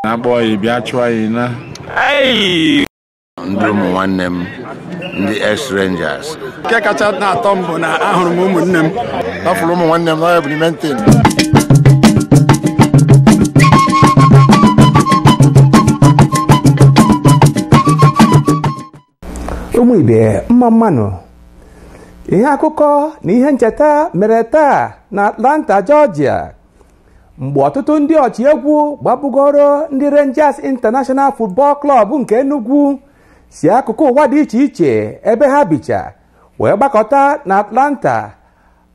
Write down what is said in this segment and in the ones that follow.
na-akpọ ya bịa chụọ anyị na ndị ụmụ nwanne m ndị ex rangers nke kacha na-atọ m bụ na ahụrụ m ụmụnne m afụrụ ụmụ nwanne m n'ọya bụ n'ime ntị ụmụ ibe mma mma nụ ihe akụkọ na ihe ncheta mere taa na atlanta jọjia mgbe ọtụtụ ndị ọchịegwu gbabugoro ndị rangers international football club nke enugwu si akụkụ ụwa dị iche iche ebe ha bicha wee gbakọta na atlanta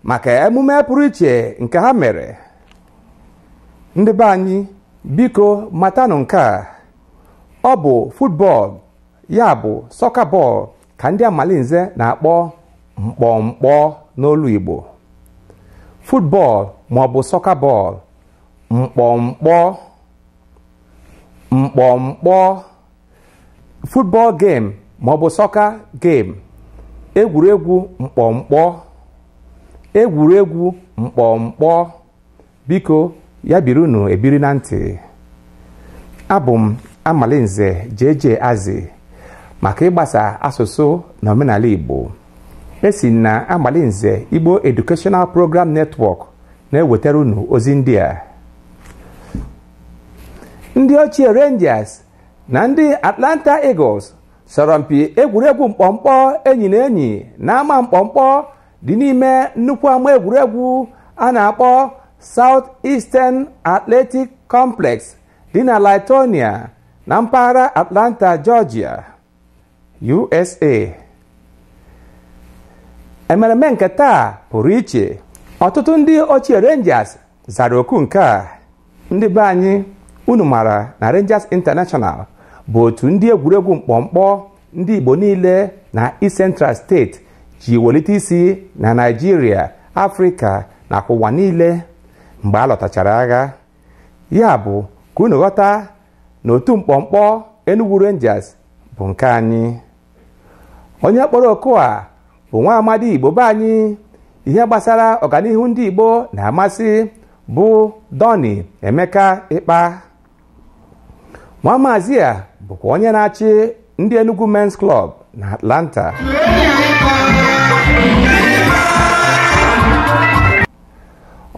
maka emume pụrụ iche nke ha mere ndị be anyị biko matanụ nke a ọ bụ football ya bụ sọka bọọlụ ka ndị amalinze na-akpọ mkpọmkpọ n'olu Igbo football ma ọ bụ sọka bọọlụ mkpọmkpọ mkpọmkpọ football game ma ọ bụ sọka game egwuregwu mkpọmkpọ egwuregwu mkpọmkpọ biko ya biri unu ebiri na ntị abụ m amalinze JJ Azị maka ịgbasa asụsụ na omenala Igbo e si na amalinze Igbo Educational Program Network na-ewetara unu ozi ndị a ndị ochie Rangers na ndị Atlanta Eagles sọrọ mpi egwuregwu mkpọmkpọ enyi na enyi na ama mkpọmkpọ dị n'ime nnukwu ama egwuregwu a na-akpọ South Eastern Athletic Complex dị na Lithonia na mpaghara Atlanta, Georgia, USA. emereme nke taa pụrụ iche ọtụtụ ndị ochie Rangers zara oku nke a ndị be anyị unu mara na Rangers International bụ otu ndị egwuregwu mkpọmkpọ ndị Igbo niile na East Central State ji welite isi na Naịjirịa Afrịka na ụwa niile mgbe a lọtachara agha ya bụ ka unu ghọta na otu mkpọmkpọ Enugu Rangers bụ nke anyị onye kpọrọ oku a bụ nwa amadi igbo be anyị ihe gbasara ọganihu ndị igbo na-amasị bụ dọni emeka ịkpa nwa maazị a bụkwa onye na-achị ndị enugu men's club na atlanta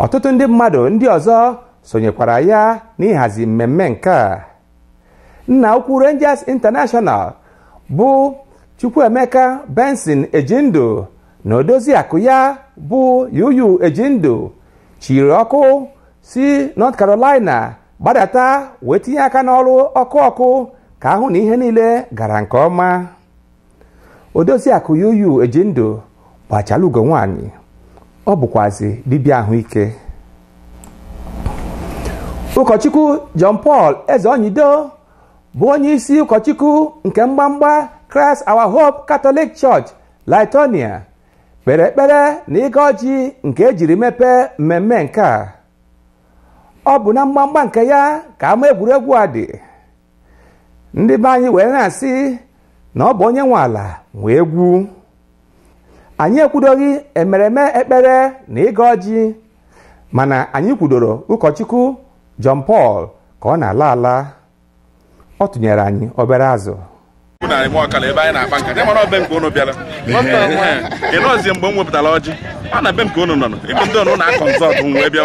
ọtụtụ ndị mmadụ ndị ọzọ sonyekwara ya n'ịhazi mmemme nke a nna ukwu Rangers International bụ Chukwuemeka Benson Ejindu na odozi akụ ya bụ Yuyu Ejindu chiri ọkụ si North Carolina gbadata wee tinye aka n'ọrụ ọkụ ọkụ ka a hụ na ihe niile gara nke ọma odoziakụ Yuyu Ejindu gbachala ugo nwaanyị ọ bụkwazi dibịa ahụike ụkọchukwu John Paul Ezeonyido bụ onye isi ụkọchukwu nke mgbamgba Christ Our Hope Catholic Church Lithonia kpere ekpere na ịgọ ọjị nke e jiri mepee mmemme nke a ọ bụ na mgbamgba nke ya ka ama egwuregwu a dị ndị be anyị wee na-asị na ọ bụ onye nwe ala nwe egwu anyị ekwudoghị emereme ekpere na ịgọ ọjị mana anyị kwudoro ụkọchukwu John Paul ka ọ na-ala ala ọ tụnyere anyị obere azụ narị nwa ọkala ebe anyị na-akpa nka mara ọbe nke unu bịara ị nọzie mgbe m wepụtara ọjị ọ na be nke unu nọ ịbụ ndị ọnụ na-akọ nzọ ọdụ wee bịa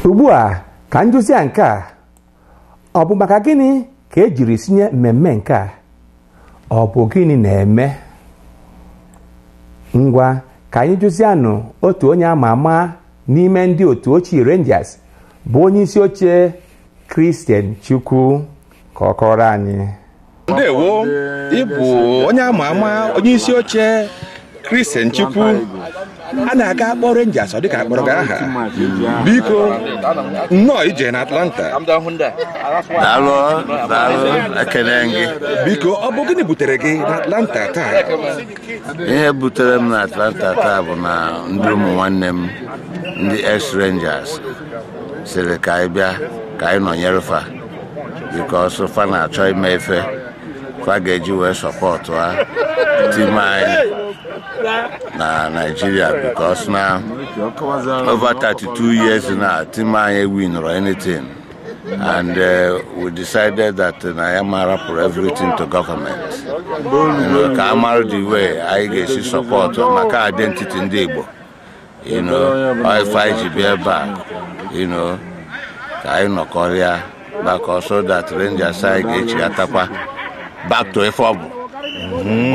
ugbu a ka anyị jụzia nke a ọ bụ maka gịnị ka e jiri sinye mmemme nke a ọ bụ gịnị na-eme ngwa ka anyị jụzianụ otu onye ama ama n'ime ndị otu ochie Rangers bụ onye isi oche Christian Chukwu ka ọ kọọrọ anyị ndewo ị bụ onye ama ama onye isi oche Christian Chukwu a na-aga akpọ Rangers ọ dịka a kpọrọ gị aha biko nnọọ ije na Atlanta daalụ daalụ ekele gị biko ọ bụ gịnị butere gị na Atlanta taa ihe butere m na Atlanta taa bụ na ndị ụmụ nwanne m ndị ex Rangers sịrị ka anyị bịa ka anyị nọnyere fa because fa na-achọ ime ife fa ga-eji wee supportụa team anyị na Nigeria because na over 32 years na team anyị ewinirọ anything and uh, we decided that uh, na anyị ama arapụ everything to government You know, ka a mara the way anyị ga-esi support maka identity ndị Igbo you know ọ ife anyị ji bịa ebe a you know ka anyị nọkọrịa maka ọ so that Rangers anyị ga-echiatakwa back to ife ọ bụ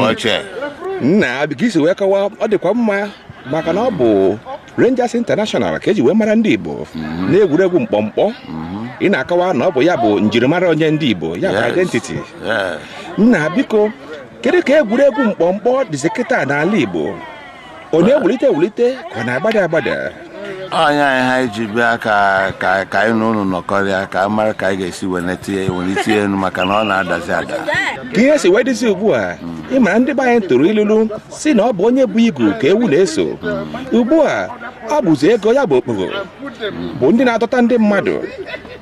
ochie nna biko i si wee kọwaa ọ dịkwa mma maka na ọ bụ Rangers International ka e ji wee mara ndị Igbo mhm. n'egwuregwu mkpọmkpọ mhm. ị na-akọwa na ọ bụ ya bụ njirimara onye ndị Igbo ya bụ identity nna biko kedu ka egwuregwu mkpọmkpọ dịzi kịta n'ala Igbo ọ na-ewulite ewulite ka ọ na-agbada agbada onye anyị ha iji bịa ka ka ka anyị na ụnụ nọkọrịa ka a mara ka anyị ga-esi welite welite elu maka na ọ na-adazi ada ka ihe si wee dịzi ugbu a ị mara ndị be anyị tụrụ ilulu sị na ọ bụ onye bu igu ka ewu na-eso ugbu a ọ bụzi ego ya bụ okpogho bụ ndị na-adọta ndị mmadụ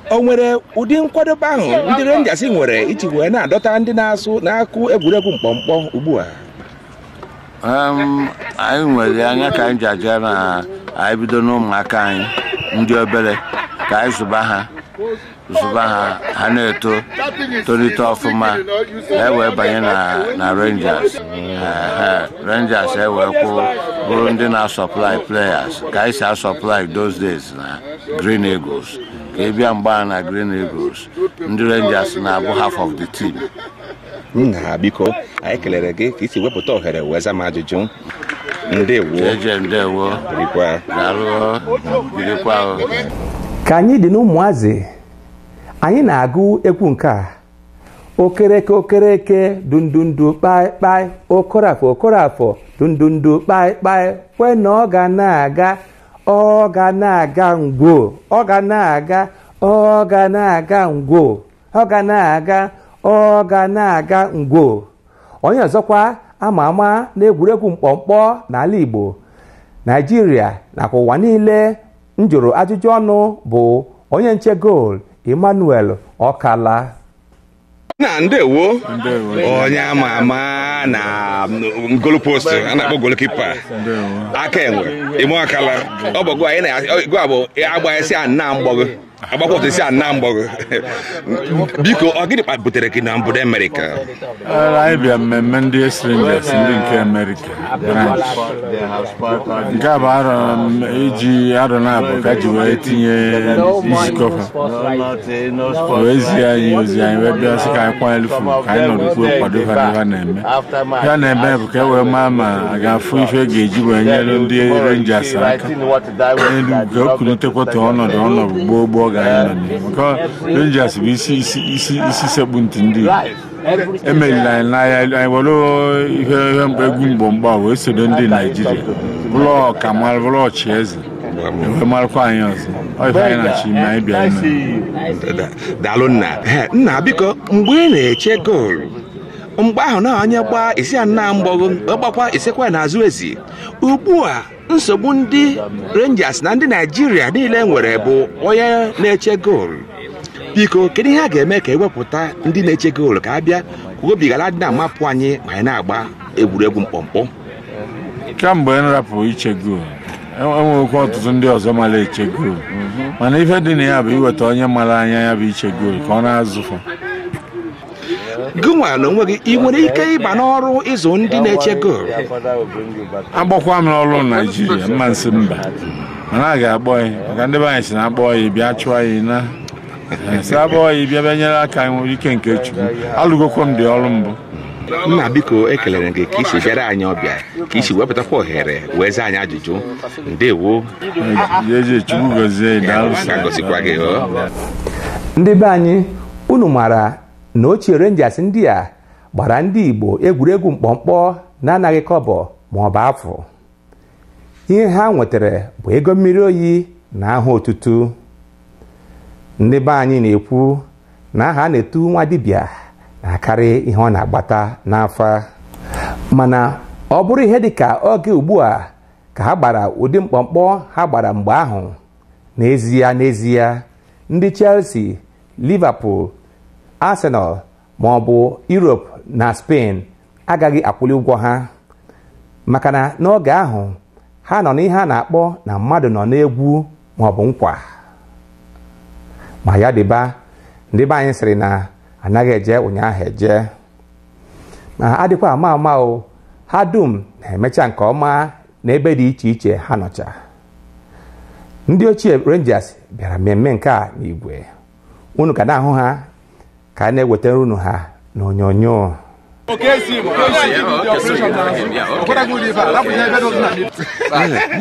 o nwere ụdị nkwadobe ahụ ndị Rangers nwere iji wee na-adọta ndị na-asụ na-akụ egwuregwu mkpọmkpọ ugbu a Em, anyị nwere anya ka anyị ji aja na anyị bido n'ụmụaka anyị ndị obele ka anyị zụba ha zụba ha ha na-eto tolite ọfụma e wee banye na na Rangers Ehe, Rangers e wee kwụ bụrụ ndị na-asupply players ka anyị si asupply those days na Green Eagles ka ị bịa mgbe ahụ na Green Eagles ndị Rangers na-abụ half of the team nna biko anyị kelere gị ka i si wepụta ohere wee zaa m ajụjụ ka anyị dị n'ụmụazị anyị na-agụ egwu nke a Okereke Okereke dundundu kpaịkpaị Okorafọ Okorafọ dundundu kpaịkpaị kwe na ọ ga na-aga ọ ga na-aga ngwo ọ ga na-aga ọ ga na-aga ngwo ọ ga na-aga ọ ga na-aga ngwo onye ọzọkwa ama ama n'egwuregwu mkpọmkpọ n'ala Igbo Naijiria nakwa ụwa niile m jụrụ ajụjụ ọnụ bụ onye nche goolu Emmanuel Okala nna ndewo onye ama ama na goalpost a na-akpọ goalkeeper aka enwe Emma Okala ọ bụ gị anyị na-agụ abụ agba esi a nna mgbọgụ agbakwa otu esi ana mgbọgụ biko ọ gịnị kpa- butere gị n'obodo Amerịka Well, anyị bịa mmemme ndị Ex-Rangers ndị nke Amerịka branch. nke a bụ arọ m- iji arọ naabọ ka ji wee tinye nzukọ ha O wee zie anyị ozi anyị wee bịa sị ka anyị kwanyere fa ugwu ka anyị nọrọkwuo kwado ha n'ihe ha na-eme ihe a na-eme bụ ka e wee maa ma a ga-afụ ife a ga-eji wee nyere ndị Rangers aka ga-ekwulitekwa ọnọdụ ọnọdụ gboo gboo ga anyị nọ maka Rangers bụ isi isi isi isi sekpu ntị ndị emerila anyị n'aya anyị were ihe ihe mkpa egwu mgbo mgba wee sodo ndị Naijiria bụrụ ọka mara bụrụ ọchị eze e wee marakwa anyị ọzọ ọ ife anyị na-achọ ime anyị bịa ime daalụ nna nna biko mgbe ị na-eche goolu mgbe ahụ na onye gbaa isi a nna mgbọgụ gbakwa isekwa n'azụ ezi ugbu a nsogbu ndị Rangers na ndị Naijiria niile nwere bụ onye na-eche goolu biko kedu ihe a ga-eme ka e wepụta ndị na-eche goolu ka a bịa ka obi ghara dị na-amapụ anyị ma anyị na-agba egwuregwu mkpọmkpọ kemgbe m rapụ iche goolu e nwekwa ọtụtụ ndị ọzọ mala eche goolu mana ife dị na ya bụ iweta onye mala anya ya bụ iche goolu ka ọ na-azụ fa gịnwa n'onwe gị ị nwere ike ịba n'ọrụ ịzụ ndị na-eche goolu a kpọkwa m n'ọrụ naijiria m ma-asị mba mana a ga-akpọ gị maka ndị be anyị sị na a kpọọ gị bịa chụọ gị na sị a kpọọ gị bịa bịa nyere aka anyị nwere ike nke chukwu alụgokwa m ụdị ọrụ mbụ nna biko ekelere gị ka i si bịara anyị ọbịa ka i si wepụtakwa ohere wee zaa anyị ajụjụ ndewo Eze Chukwu gọzie anyị, daalụ sir. Ka ọ gọzikwa gị, o. ndị be anyị unu maara na ochie Rangers ndị a gbara ndị Igbo egwuregwu mkpọmkpọ na anaghị kọbọ ma ọ bụ afụ ihe ha nwetara bụ ego mmiri oyi na aha ọtụtụ ndị be anyị na-ekwu na aha a na-etu nwa dibịa na-akarị ihe ọ na-agbata n'afa mana ọ bụrụ ihe dị ka oge ugbu a ka ha gbara ụdị mkpọmkpọ ha gbara mgbe ahụ n'ezie n'ezie ndị Chelsea Liverpool, Arsenal ma ọ bụ Europe na Spain agaghị akwụli ụgwọ ha maka na n'oge ahụ ha nọ n'ihe a na-akpọ na mmadụ nọ n'egwu ma ọ bụ nkwa ma ya dịba ndị be anyị sịrị na anaghị eje ụnyaahụ eje ma adịkwa ama ama o ha dum na-emecha nke ọma na ebe dị iche iche ha nọcha ndị ochie Rangers bịara mmemme nke a n'igwe unu ka na-ahụ ha ka a na-ewetara unu ha n'onyonyo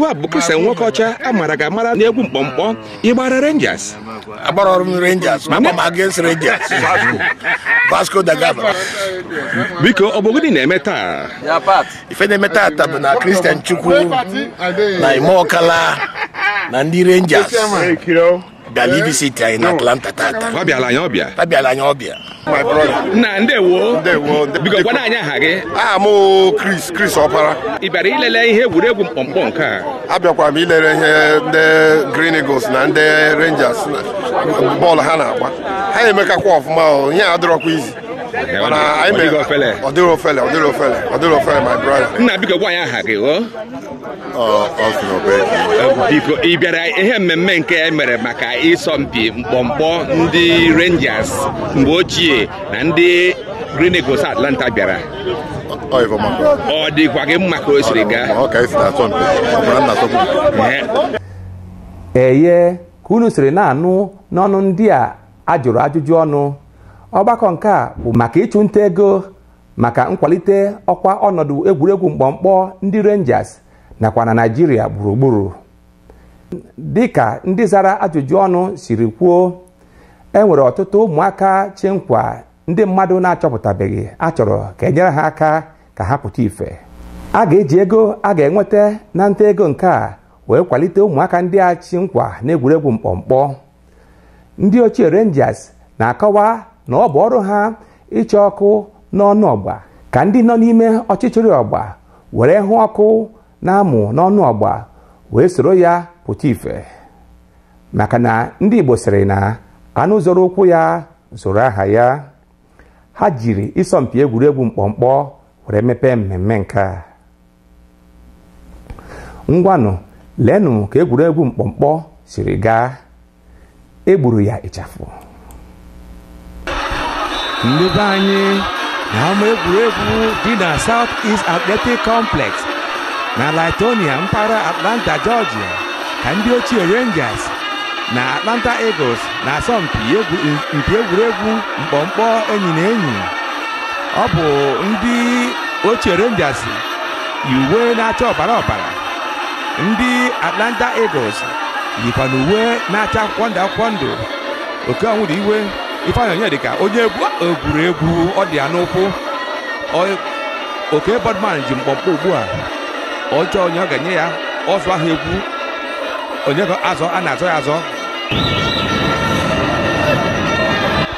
ọ bụ Christian Nwokocha a mara gị amara n'egwu mkpọmkpọ ị gbara Rangers agbarọlụ m Rangers ma ma against Rangers Vasco da Gama biko ọ bụ gịnị na-eme taa ife na-eme tata bụ na Christian Chukwu na Emma Okala na ndị rangers bịara ivisiti anyị na atlanta tata ọ bịala anyị ọbịa ha bịara anyị ọbịa nna ndewo Ndewo, nde- biko gwana anyị aha gị aha m bụ chris chris ọpara ị bịara ilele ihe egwuregwu mkpọmkpọ nke a abịakwara m ilere ihe ndị green eagles na ndị rangers bọọlụ ha na-agba ha emekakwa ọfụma o ihe a dịrọkwa easy mana anyị mere ọ dịrị ofele ọ dịrị ofele ọ dịrị ofele my brother nna biko gwa anyị aha gị o biko ị bịara ihe mmemme nke e mere maka ịsọmpi mkpọmkpọ ndị Rangers mgbe ochie na ndị Green Eagles Atlanta bịara ọ dịkwa gị mma ka o siri gaa eye ka unu siri na-anụ n'ọnụ ndị a a jụrụ ajụjụ ọnụ ọgbakọ nke a bụ maka ịchụ nta ego maka nkwalite ọkwa ọnọdụ egwuregwu mkpọmkpọ ndị Rangers nakwa na Naịjirịa gburugburu dịka ndị zara ajụjụ ọnụ siri kwuo e nwere ọtụtụ ụmụaka chị nkwa ndị mmadụ na-achọpụtabeghị a chọrọ ka e nyere ha aka ka ha pụta ife a ga-eji ego a ga-enweta na nta ego nke a wee kwalite ụmụaka ndị a chị nkwa n'egwuregwu mkpọmkpọ ndị ochie Rangers na-akọwa na ọ bụ ọrụ ha ịchọ ọkụ n'ọnụ ọgba ka ndị nọ n'ime ọchịchịrị ọgba were hụ ọkụ na-amụ n'ọnụ ọgba wee soro ya pụta ife maka na ndị Igbo sịrị na anụ zoro ụkwụ ya zoro aha ya ha jiri ịsọmpi egwuregwu mkpọmkpọ were mepee mmemme nke a ngwanụ leenụ ka egwuregwu mkpọmkpọ siri gaa e gburu ya ịchafụ ndị be anyị n'ama egwuregwu dị na South East Athletic Complex na Lithonia mpaghara Atlanta Georgia ka ndị ochie Rangers na Atlanta Eagles na-asọmpi egwuregwu mkpọmkpọ enyi na enyi ọ bụ ndị ochie Rangers yi uwe na-acha ọbara ọbara ndị Atlanta Eagles yikwanụ uwe na-acha akwụkwọ ndụ akwụkwọ ndụ Okey Onwudiwe Ifeanyi Onyedika onye egwu egwuregwu ọ dị ya n'ụkwụ Ọ- Okey Bodman ji mkpọmkpọ ugbu a ọ chọọ onye ọ ga-enye ya ọzụ ahụ egwu onye ka azọ a na-azọ ya azọ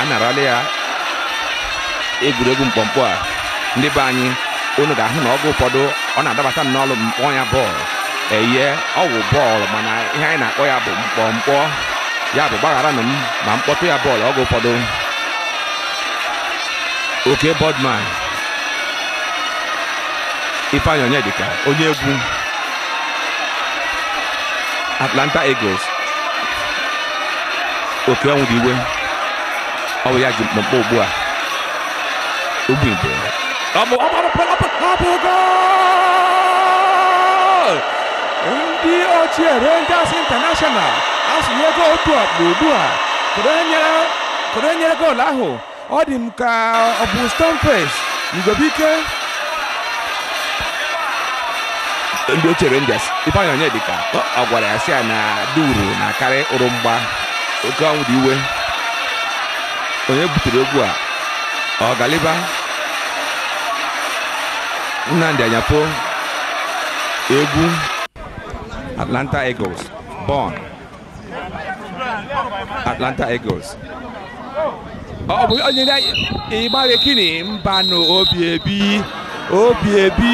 a narala ya egwuregwu mkpọmkpọ a ndị be anyị unu ga-ahụ na oge ụfọdụ ọ na-adabata n'ọnụ m kpọọ ya bọọlụ eye ọ wụ bọọlụ mana ihe anyị na-akpọ ya bụ mkpọmkpọ ya bụ gbagharanụ m ma m kpọtụ ya bọọlụ oge ụfọdụ Okey Bodman Ifeanyi Onyedika onye egwu Atlanta Eagles Okey Onwudiwe ọ bụ ya ji mkpọmkpọ ugbu a ugwu igbo ọ bụ ọ bụ ọ bụ ọ bụ goal! ndị ochie Rangers International asụnyego otu ọkpụ ugbu a kụrụ enyere goolu ahụ ọ dị m ka ọ bụ Stamford Igwebuike ndị ochie Rangers Ifeanyi Onyedika ọ gwara ya sị ya na duru na-akarị ụrụ mgba Okey Onwudiwe onye butere egwu a ọ Galiba Nnamdi Anyafo egwu Atlanta Eagles Born Atlanta Eagles ọ bụ onye ịgbaghị kini mbanụ obi ebi obi ebi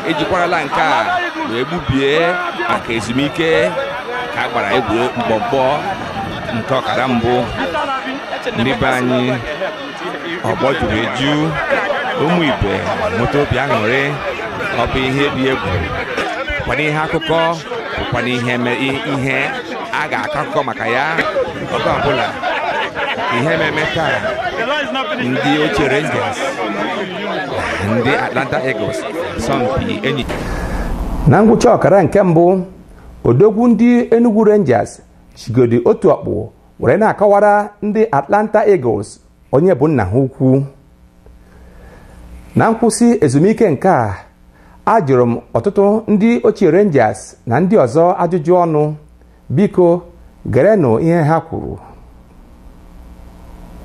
ejikwarala nke a wee gbubie maka ezumike ka a gbara egwu mkpọmkpọ nke ọkara mbụ ndị be anyị ọgbọ juru eju ụmụ Igbo nweta obi aṅụrị ọ bụ ihe dị egwu bụkwanụ ihe akụkọ bụkwanụ ihe me- i- ihe a ga-akọ akụkọ maka ya oge ọbụla ihe ememe taa ndị ochie Rangers na ndị Atlanta Eagles asọmpi enyi na ngwụcha ọkara nke mbụ odogwu ndị Enugu Rangers jigodi otu ọkpụ were na-akọwara ndị Atlanta Eagles onye bụ nna ha ukwu na nkwụsị ezumike nke a ajụrụ m ọtụtụ ndị ochie Rangers na ndị ọzọ ajụjụ ọnụ biko gerenụ ihe ha kwuru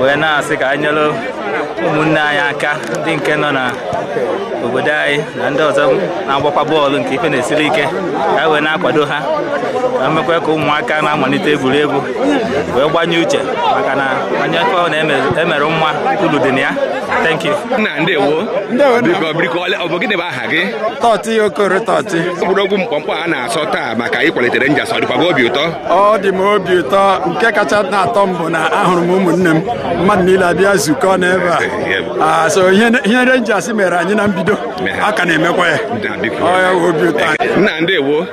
wee na-asị ka anyị nyere ụmụnne anyị aka ndị nke nọ na obodo anyị na ndị ọzọ na-agbakwa bọọlụ nke ife na-esiri ike ka wee na-akwado ha na-emekwa ka ụmụaka na-amalite egwuregwu wee gbanye uche maka na onye fa na-emere ma ulu dị na ya thank you gị Totty Okoro Totty egwuregwu mkpọmkpọ a na-asọ taa maka ịkwalite Rangers ọ dịkwa gị obi ụtọ ọ dị m obi ụtọ nke kacha na-atọ m bụ na ahụrụ m ụmụnne m mmadụ niile abịazukọ n'ebe a ah, so ihe Rangers mere anyị na mbido a ka na-emekwa ya obi ụtọ nna ndewo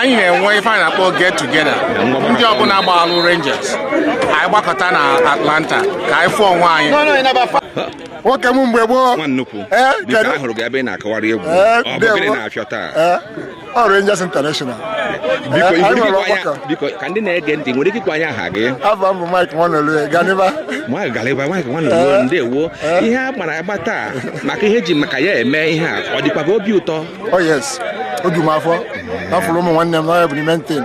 anyị na-enwe ife a na-akpọ get together ndị ọbụla gbaalụ Rangers anyị gbakọta na Atlanta ka anyị fụọ onwe anyị nwoke m mgbe gboo ahụrụ gị ebe ị na-akọwara egwu ọ bụ gịnị na-afịọ taa ọ Rangers International biko ka ndị na-ege ntị nwere ike ịgwa anyị aha gị afa m bụ Mike Nwanolue Ganiba Mike Ganiba Mike Nwanolue ndewo ihe a gbara agba taa maka ihe e ji maka ya eme ihe a ọ dịkwa gị obi ụtọ Oh yes, obi m afọ afụrụ ụmụ nwanne m n'ọhịa bụ n'ime ntị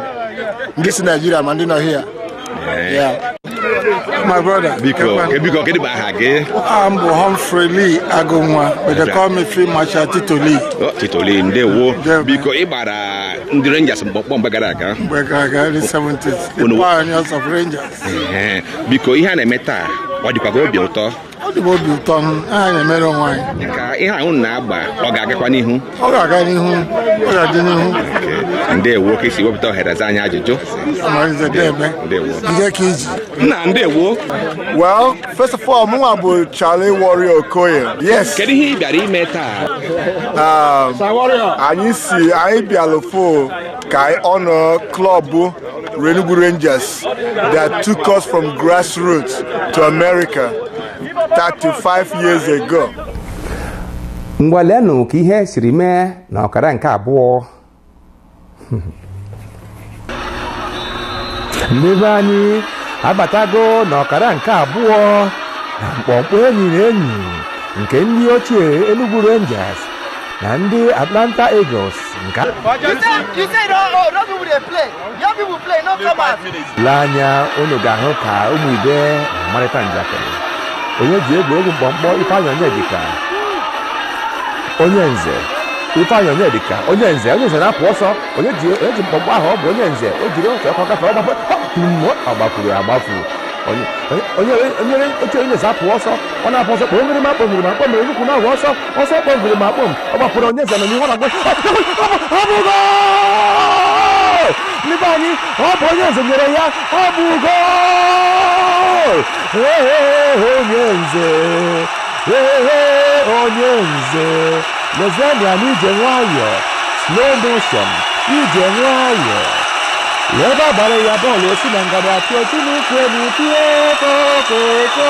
ndị si Naịjirịa ma ndị nọ hịa my brother biko biko kedụ bụ aha gị aha m bụ Humphrey Lee Agụnwa but they call me Field Marshal Tito Lee oh, Tito Lee ndewo biko ị gbara ndị Rangers mkpọmkpọ mgbe gara aga mgbe gara aga early 70s the pioneers of Rangers biko ihe a na-eme taa ọ dịkwa gị obi ụtọ ọ dị m obi ụtọ maka na-emere onwe anyị ka ihe ahụ na-agba ọ ga-agakwa n'ihu ọ ga-aga n'ihu ọ ga-adị n'ihu ndewo ka i si wepụta ohere za anyị ajụjụ amarize debe ndewo nke ka iji nna ndewo well first of all mụnwa bụ Charlie Warrior Okoye yes kedu ihe ị bịara ime taa um, anyị si anyị bịalụ fo ka anyị honour club Enugu Rangers that took us from grassroots to America 35 years ago. ngwa leenụ ka ihe siri mee na ọkara nke abụọ ndị be anyị abatago na ọkara nke abụọ na mkpọmkpọ enyi na enyi nke ndị ochie Enugu Rangers na ndị Atlanta Eagles nke le anya unu ga-ahụ ka ụmụ ibe marịta njakịrị onye ji egwuregwu mkpọmkpọ Ifeanyị Onyedika onye nze Ifeanyị Onyedika onye nze onye nze na-apụ ọsọ onye ji onye ji mkpọmkpọ ahụ ọ bụ onye nze o jiri otu ọsọ gafee ọ gbafe tumo agbafuru agbafu onye onye onye oche onye nze apụ ọsọ ọ na-apụ ọsọ kpọmiri ma kpọmiri ma kpọmiri nnukwu na-ahụ ọsọ ọsọ kpọbiri ma kpọm ọ gbapụrụ onye nze nọ n'ihu ọ na-agba ọ bụ gol ndị be anyị ọ bụ onye nze nyere ya ọ bụ gol Ee, ee, onye nze Ee, ee, onye nze lezienụ ya n'ije nwayọọ slow motion ije nwayọọ ebe a gbara ya bọọlụ o si na ngada atụ otu n'ukwu elu tie kokoko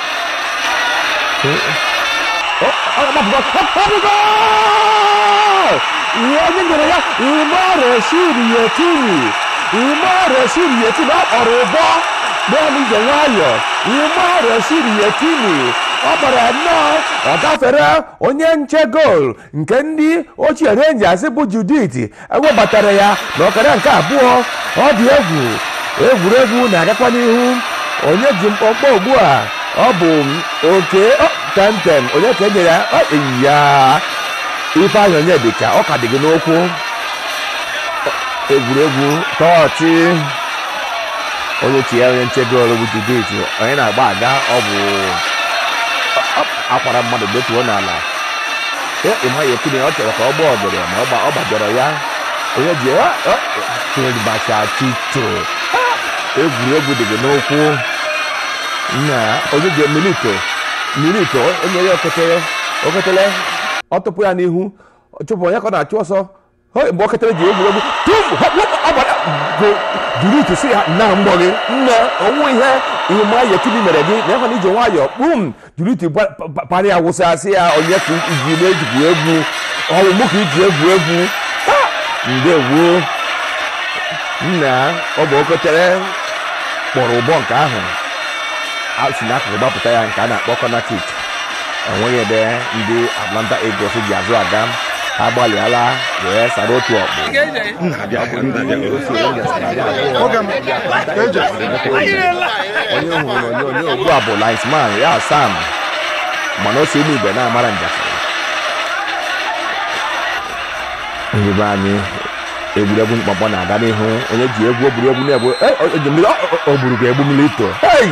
onye nyere ya Umar Rashidi Yekini Umar Rashidi Yekini ọ kpọrọ ụbọ gbanụ ije nwayọ Umar Rashidi Yekini ọ gbara ya nnọọ ọ gafere onye nche goolu nke ndị ochie Rangers bụ Judith e webatara ya n'ọkara nke abụọ ọ dị egwu egwuregwu na-agakwa n'ihu onye ji mkpọmkpọ ugbu a ọ bụ oke tentem onye ka e nyere ya ọ eyi ya Ifeanyị Onyedika ọ ka dị gị n'ụkwụ egwuregwu tọọ ọchị onye chịa onye nche goolu bụ Judith onye na-agba aga ọ bụ a kwara mmadụ detuo n'ala Eh, Ima Yekini ọ chọrọ ka ọ gbaa ọgọdọ ma ọ gba- ọ gbajọrọ ya onye ji ya Field Marshal tito egwuregwu dị gị n'ụkwụ nna onye ji milito milito o nye ya okotele okotele ọ tụpụ ya n'ihu chụpụ onye ka ọ na-achụ ọsọ Hey, mgbe okotele ji egwuregwu tum hop, hop, ọ gbara go durut sị ya na mgbọ gị nne o nwe ihe Ima Yekini mere gị na ịhụ n'ije nwayọọ kpum durut gba- pa- pa- para ya wụsa sị ya onye ka i ji na-ejigbu egwu ọ wụ mụ ka i ji egwu egwu Ha! ndewo nna ọ bụ okotele kpọrọ ụbọ nke ahụ a si n'akụkụ gbapụta ya nke a na-akpọ corner kick o nweghị ebe ndị Atlanta Eagles ji azụ aga ha gbalịala wee sara otu ọkpụ onye hụrụ onyonyo ugbu a bụ linesman ya Sam mana o si ụmụ igwe na-amara njakịrị ndị be anyị egwuregwu mkpọmkpọ na-aga n'ihu onye ji egwu egwuregwu na-egbu o gburu ga egbu milito hei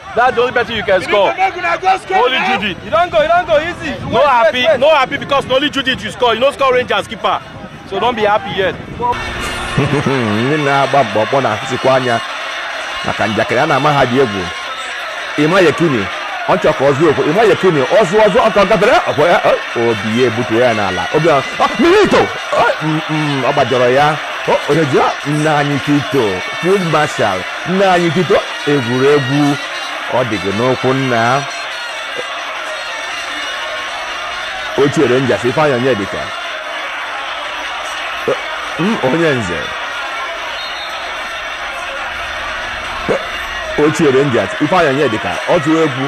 That's the only person you can score. Only Judy. You don't go, you don't go easy. No wait, happy, wait, wait. no happy because only Judy you score. You no score Rangers keeper. So don't be happy yet. Ndị na-agba mkpọmkpọ na-ahụsikwa anya maka njakịrị a na-ama ha dị egwu. Ima Yekini, ọ chọrọ ka ọ zụọ okwu. Ima Yekini, ọ zụọ ọzọ ọka gafere ọkwa ya obi ya ebutuo ya n'ala. Obi ọ milito ọ gbajọrọ ya. Onye ji nna anyị Tito, Field Marshal, nna anyị Tito egwuregwu ọ dị gị n'ụkwụ nna ochie Rangers ifeanyị onyedika M- onye nze ochie Rangers ifeanyị onyedika ọ tụrụ egwu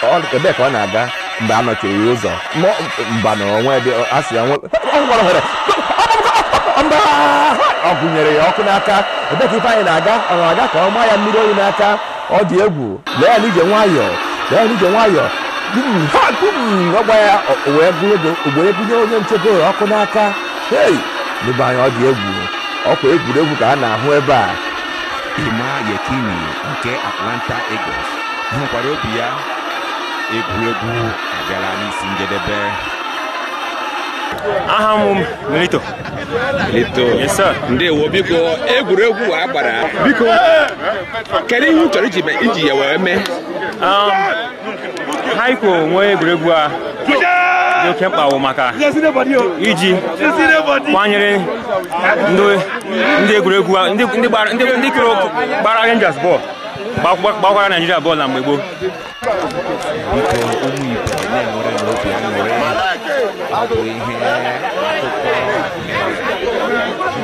Ọ- ebee ka ọ na-aga mgbe a nọchiri ya ụzọ mọ- mba na onwe dị a sị ya nwe ọ gwara ohere mba ọ gụnyere ya ọkụ n'aka ebe ka Ifeanyị na-aga ọ na-aga ka ọ maa ya mmiri oyi n'aka ọ dị egwu lee ya n'ije nwayọọ lee ya n'ije nwayọọ Bum, ha, bum, ọ gwa ya ọ- o wee gụnye ego o wee gụnye onye nchebe ụlọ ọkụ n'aka hei ndị be anyị ọ dị egwu ọ kwa egwuregwu ka a na-ahụ ebe a Ima Yekini nke Atlanta Eagles hụkwara obi ya egwuregwu abịala n'isi njedebe aha m Milito Milito yes sir ndewo biko egwuregwu a gbara biko kedu ihe chọrọ iji ya wee mee um, ha ikwo nwee egwuregwu a dị oke mkpa wụ maka iji kwanyere ndị egwuregwu ndị gbara Rangers bọọlụ gbakwara Naijiria bọọlụ na mgbe gboo biko ụmụ ibe na-enwerenụ obi aṅụrị ọ bụ ihe akụkọ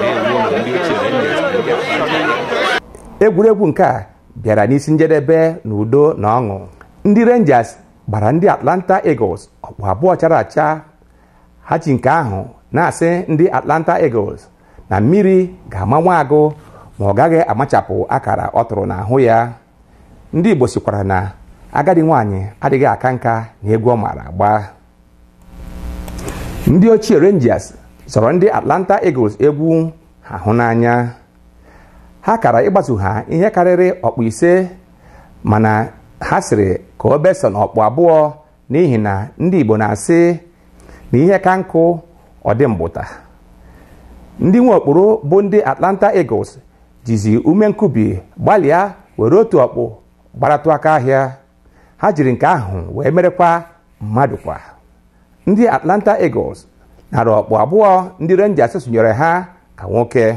na-ewu ụlọ ndị ochie na ndị ndị akpa egwuregwu nke a bịara n'isi njedebe na udo na ọṅụ ndị rangers gbara ndị atlanta eagles ọkpụ abụọ chara acha ha ji nke ahụ na-asị ndị atlanta eagles na mmiri ga-ama nwa agụ ma ọ gaghị amachapụ akara ọ tụrụ n'ahụ ya ndị Igbo sịkwara na agadi nwaanyị adịghị aka nka na egwu ọ maara agba ndị ochie Rangers zọrọ ndị Atlanta Eagles egwu ha hụ n'anya ha kara ịgbatu ha ihe karịrị ọkpụ ise mana ha sịrị ka o besa na ọkpụ abụọ n'ihi na ndị Igbo na-asị na ihe ka nkụ ọ dị mgbụta ndị nwe okporo bụ ndị Atlanta Eagles jizi ume nkubi gbalịa were otu ọkpụ gbaratụ aka ahịa ha jiri nke ahụ wee merekwa mmadụ kwa ndị Atlanta Eagles nara ọkpụ abụọ ndị Rangers sunyere ha ka nwoke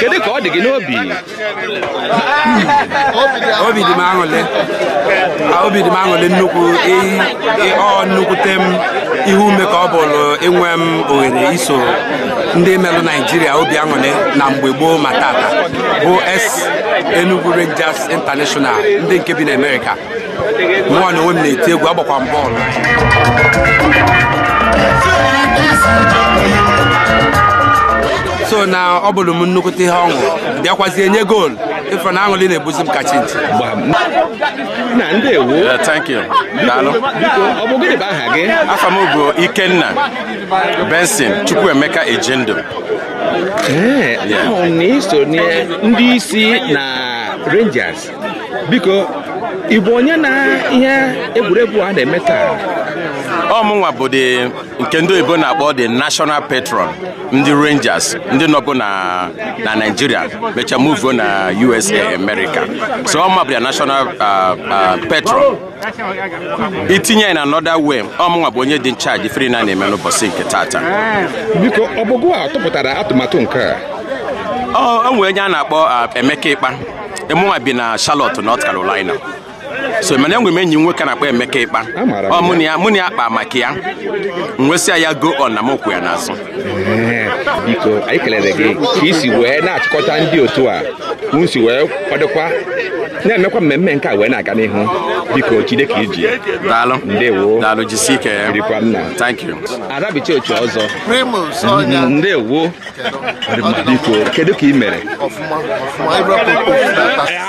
kedu ka ọ dị gị n'obi obi dị m aṅụlị obi dị m aṅụlị nnukwu ọ nnukwute m ihe ume ka ọ bụlụ inwe m oghere iso ndị melụ naijiria obi aṅụlị na mgbe gboo ma tata bụ ex Enugu Rangers International ndị nke bi na Amerịka mụnwa na onwe m na-eti egwu agbakwa m bọọlụ so na ọ bụlụ m nnukwute ihe ọṅụ bịakwazie nye goolu ị fụ na aṅụlị na-ebuzi m ka chinchi nna ndewo Yeah, thank you. Daalụ. biko ọ bụ gịnị bụ aha gị Afa m bụ Ikenna Benson Chukwuemeka Ejindu. ee a hụ na i so na ndị isi na rangers biko ị bụ onye na ihe egwuregwu a na-eme taa ọ mụnwa bụ dị nke ndị oyibo na-akpọ the national patron ndị rangers ndị nọbu na na naijiria mechaa muvuo na usa america so ọ mụ bụ the national uh, uh, patron i tinye ya na another way ọ mụnwa bụ onye dị in charge ife niine a na-eme n'ụbọsị nke tata biko ọ bụ gị tụpụtara atụmatụ nke a o nwere onye a na-akpọ uh, emeka ịkpa e mụnwa bi na Charlotte North Carolina so mana enwe m enyi nwoke na-akpọ Emeka Ịkpa ọ mụ na ya mụ na ya kpa maka ya m wee sị ya go on na m kwụ ya n'azụ biko anyị kelere gị ka i si wee na-achịkọta ndị otu a unu si wee kwadokwa na-emekwa mmemme nke a wee na-aga n'ihu biko jide ka i ji daalụ ndewo daalụ jisie ike ya birikwa nna thank you arabicha otu ọzọ Primus Ọnya. ndewo biko kedu ka ị mere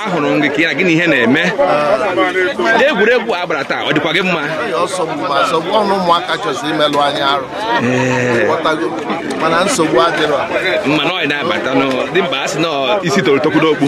ahụrụ m gị ka ya gịnị ihe na-eme egwuregwu a gbara taa ọ dịkwa gị mma mana nsogbu adịrọ mana ọ na-abata dị mkpa a sị na isi toro tokwu n'okpu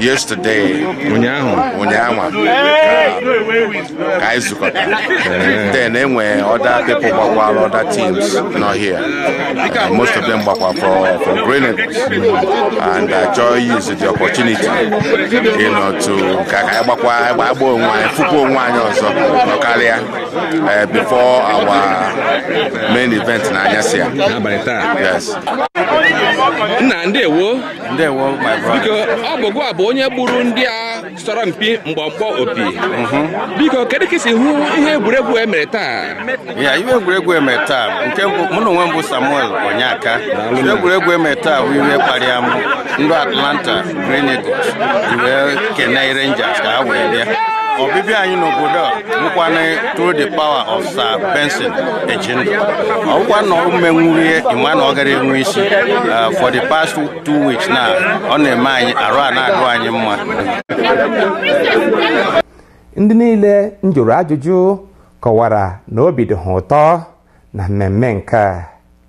yesterday ụnyaahụ ụnyaahụ ka anyị zukọtara then e nwee other people gbakwara other teams nọ here uh, most of them gbakwa for for Green Eagles and I joy use the opportunity you know to ka anyị gbakwa agba onwe anyị fụkwa onwe anyị ọzọ nọkọrịa uh, before our main event n'anyasị a yes nna ndewo ndewo my big brother ọ bụ gịwa bụ onye gbuuru ndị a sọrọ mpi mgbọmgbọ opi biko kedu ka i si hụ ihe egwuregwu e mere taa ya ihe egwuregwu eme taa nke mbụ mụ na onwe m bụ samuel onyeka ihe egwuregwu eme taa bụ iwe kparịa m ndị atlanta green eagles iwe kenee rangers ka ha wee bịa ọbịbịa anyị n'obodo a bụkwana through the power of Sir Benson Ejindu ọkwa na ọ menwuru ihe ị ma na ọ gara enwe isi uh, for the past two weeks na ọ na-eme anyị arụ a na-adụ anyị mma ndị niile m jụrụ ajụjụ kọwara na obi dị ha ụtọ na mmemme nke a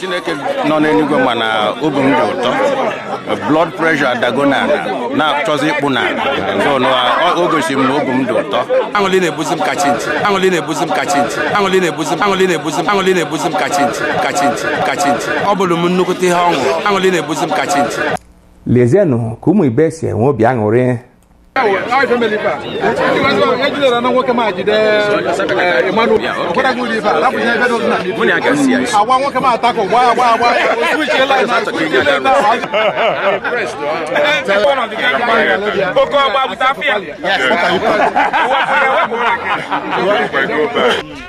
chineke nọ n'enuigwe ma na obi m dị ụtọ blood pressure adago n'ana na-achọzi ịkpụ n'ana so na ọ- o gosiri m na obi m dị ụtọ aṅụlị na-ebuzi m ka chinchi aṅụlị na-ebuzi m ka chinchi aṅụlị na-ebuzi m aṅụlị na-ebuzi m aṅụlị na-ebuzi m ka chinchi ka chinchi ka chinchi ọ bụlụ m nnukwute ihe ọṅụ aṅụlị na-ebuzi m ka chinchi lezienụ ka ụmụ ibe si enwe obi aṅụrị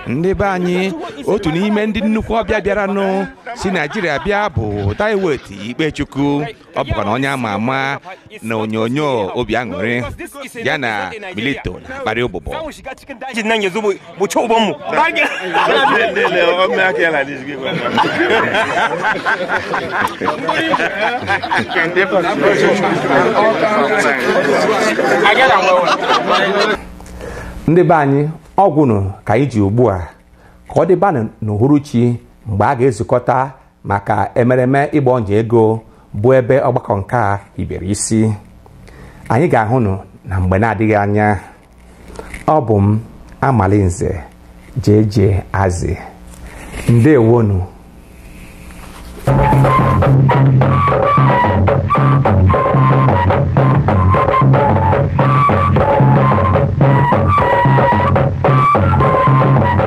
ndị be anyị otu n'ime ndị nnukwu ọbịa bịaranụ si naijiria bịa bụ Diewait Ikpechukwu ọ bụkwa na onye ama ama na onyonyo obi aṅụrị ya na Milito na-akparị ụbụbọ ndị be anyị ọ gwụnụ ka anyị ji ugbu a ka ọ dịbanụ n'uhuruchi mgbe a ga-ezukọta maka emereme ịgba ọnya ego bụ ebe ọgbakọ nke a hibere isi anyị ga-ahụnụ na mgbe na-adịghị anya ọ bụ m amalinze jeje azị ndewonụ